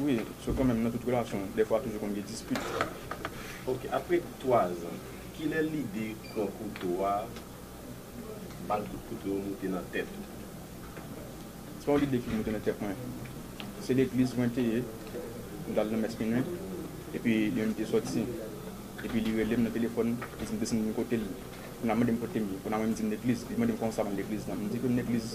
Wi, so kanmenm nan tout relasyon dèfwa toujou konn gen dispit. Ok apre 3 zan kilè lide pran kouto a bal kout kouto yo moute nan tèt ou? Se pa yon lide ki moute nan tèt mwen, se legliz mwen te ye, m t al nan mès minwi epi yon li te sòti epi li rele m nan telefòn li di m desann vin kote l, kounye a mande m kote m ye, kounye a mwen m di m legliz, li mande m kòman sa mwen legliz nan, m di ke m legliz.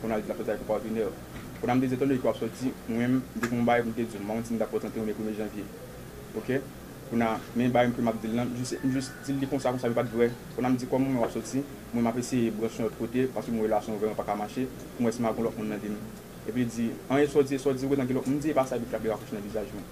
Konn al di lap sòti ak yon patenè. Konn amde di etan done ke wap sòti mwenm depi yon bagay poum te diw mawondi mtap pran 31 oubyen premye janvye ok konn a men bagay kem ap dil lan mjus mjus dil li konsa konsa li pat vrè konn amdi kòm mwen wè wap sòti mwen map eseye branch yon lòt kote paske mwen relasyon vrèman paka mache poum wè si map gon lòt moun nan vim epi li di an esòdi esòdi ou gentan gen lòt moun mdi epa sa epi frap li rakòche nan vizaj mwen.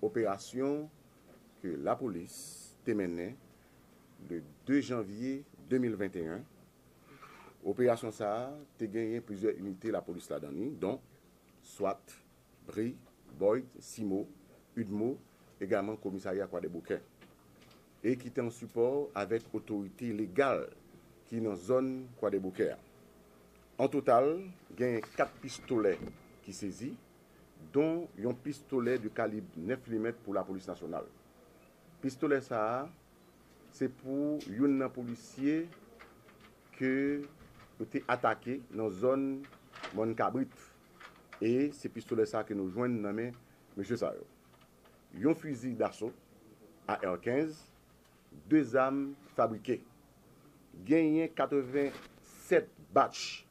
Operasyon ke lapolis te mennen le 2 janvye 2021, operasyon sa a te genyen plizyè inite lapolis ladan li, don, swat, Bri, Boyd, Simo, Udmo, egaman komisarya Kwadèboukè, e ki te an sipò avèk otorite legal ki nan zòn Kwadèboukè a. An total, genyen 4 pistolè ki sezi, don yon pistolè de kalib 9 limèt pou lapolis nasyonal. Pistolè sa a, se pou youn nan polisye ke yo te atake nan zòn Mòn Kabrit. e se pistolè sa ke nou jwenn nan men mesye sa yo. Yon fizi daso AR 15, 2 zam fabrike. Genyen 87 batch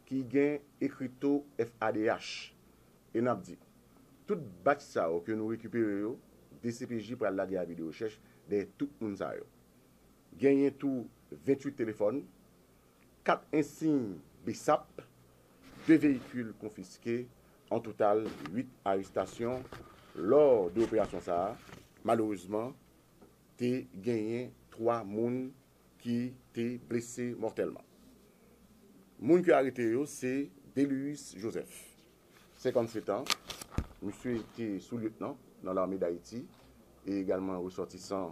ki gen ekrito FADH e n ap di, tout batch sa yo ke nou rekipere yo, dcpj pral lage avi de rechèch dèyè tout moun sa yo. Genyen tou 28 telefòn, 4 ensiy bsap, 2 veyikil konfiske, an total 8 arestasyon lò de operasyon sa a, malerezman te genyen 3 moun ki te blese mòtèlman. Moun ki arete yo se Delius Joseph, 57 an, misye te sou-lyetnan nan lame Dayiti e egalman resòtisan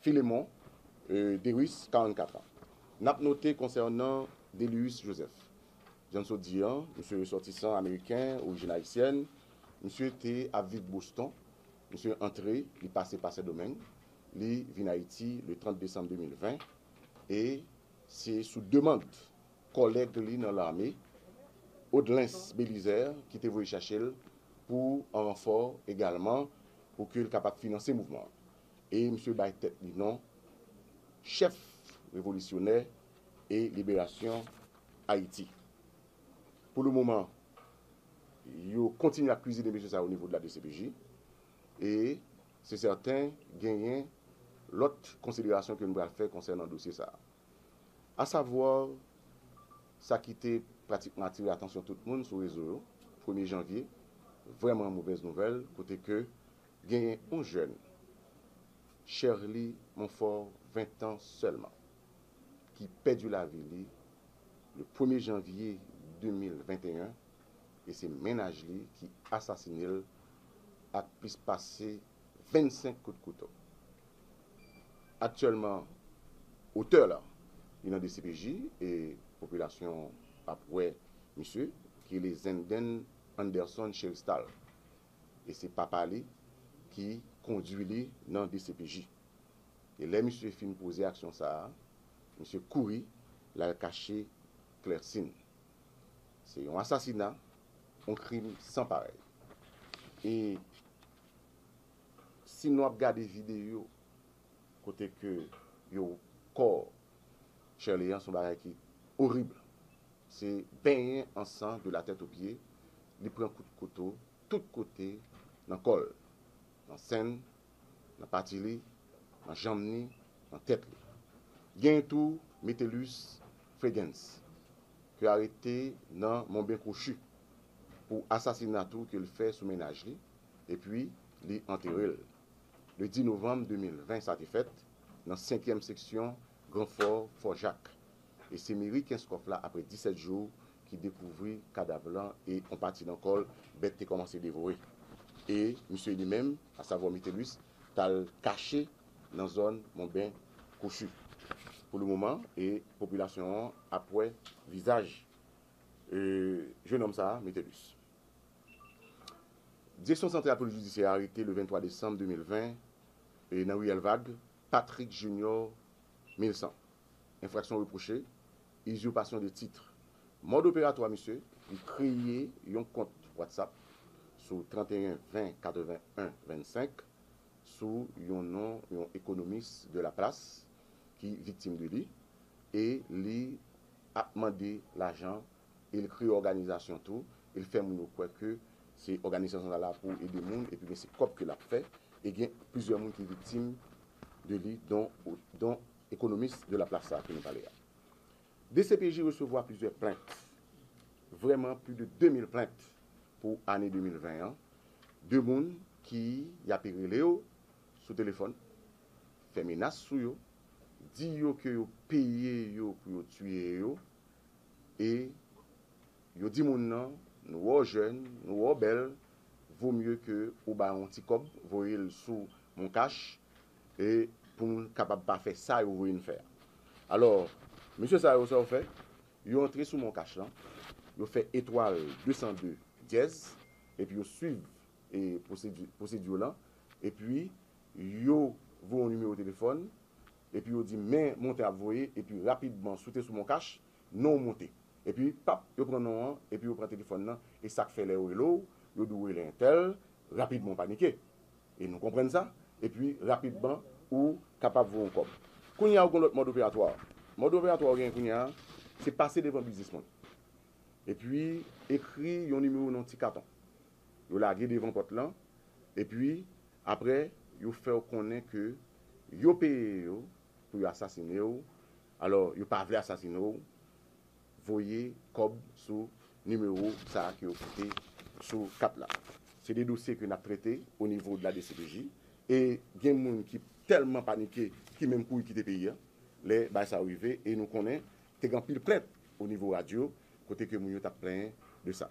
Philémon Derice, 44 an. N ap note konsènan Délius Joseph, jan n sot di an, misye resòtisan ameriken, orijin ayisyèn, misye te ap viv Boston, misye antre, li pase pa Sendomeng, li vin Ayiti le 30 desanm 2020 e se sou demand. Kòlèg li nan lame, Audelens Belizaire ki te voye chache l pou an ranfò egalman pou ke l kapab finanse mouvman an. E misye bay tèt li non Chèf Revolisyonè e Liberasyon Ayiti. Pou le moman, yo kontinye ap kwizine mesye sa o nivo de la dcpj e se sèten genyen lòt konsiderasyon ke nou pral fè konsènan dosye sa a. Asavoir, sa ki te pratikman atire atansyon tout moun sou rezo yo, premye janvye, vrèman movèz nouvèl kote ke genyen yon jèn, Cherlie Monfort, 20 tan sèlman, ki pèdi lavi li le premye janvye 2021 e se mennaj li ki asasine l ak plis pase 25 kout kouto. Aktyèlman otè la li nan dcpj e popilasyon ap wè misye ki rele Zenden Anderson Cheristal e se papa li ki kondwi li nan dcpj e lè misye fin poze aksyon sa a misye kouri l al kache Clercine. Se yon asasina, yon krim san parèy e. Si nou ap gade video kote ke yo kò Sherley an son bagay ki orib se benyen an san de la tèt o pye li pran kout kouto tout kote nan kò l nan sen l nan pati li nan janm ni nan tèt li genyen tou Metellus Fregens ke arete nan Monben Kwochi pou asasina tou ke l fè sou mennaj li. epi li antere l. Le 10 novanm 2020 sa te fèt nan senkyèm seksyon gran fò Fò Jak e se meri Kenskòf la apre 17 jou ki dekouvri kadav lan e on pati nan kò l bèt te kòmanse devore e misye li menm asavò Mitelus t al kache nan zòn Monben Kwochi pou le moman e popilasyon an ap wè vizaj jenòm sa Mitelus. Direksyon Santral Polis Jidisyè arete le 23 desanm 2020 nan Riyèl Vag, Patrick Junior Milcent. Enfraksyon repwoche, Uzurpation de titre. Mòd operatwa misye, li kreye yon kont Whatsapp sou 31 20 81 25 sou yon non yon ekonomis de la plas ki viktim de li e li ap mande lajan e l kreye òganizasyon tou e l fè moun yo kwè ke se òganizasyon sa la pou ede moun epi gen se kòb ke l ap fè e gen plizyè moun ki viktim de li don don ekonomis de laplace sa ke nou pale a. Dcpj resevwa plizyè plent vrèman pli de 2000 plent pou ane 2020 an de moun ki y ape rele yo sou telefòn fè menas sou yo di yo ke yo peye yo pou yo tiye yo e yo di moun nan nou wè w jèn, nou wè w bèl, vo mye ke ou ba yon ti kòb, voye l sou moncash e pou nou kapab pa fè sa yo voye n fè a. Alò, mesye sa yo sa yo fè? Yo antre sou moncash lan, yo fè etwal 202 dyèz, epi yo swiv e pwosedi pwosedi yo lan, epi yo voye yon nimewo telefòn, Epi yo di men monte ap voye epi rapidman si w te sou moncash non w monte epi pap yo pran non an epi yo pran telefòn nan e sak fè lè yo rele w yo di w rele entèl rapidman w panike e nou konprann sa epi rapidman ou kapab voye yon kòb kounye a ou gen yon lòt mòd operatwa mòd operatwa ou genyen kounye a se pase devan biznis moun epi ekri yon nimewo nan yon ti katon yo lage devan pòt lan epi. Apre yo fè w konnen ke yo peye yo pou yo asasine w, alò yo pa vle asasine w, voye kòb sou nimewo sa a ke yo kite sou kat la. Se de dosye ke n ap trete o nivo de la dcpj e gen moun ki tèlman panike ki menm kouri kite peyi a lè bagay sa yo rive e nou konnen te gen anpil plent o nivo radyo kote ke moun yo t ap plenyen de sa.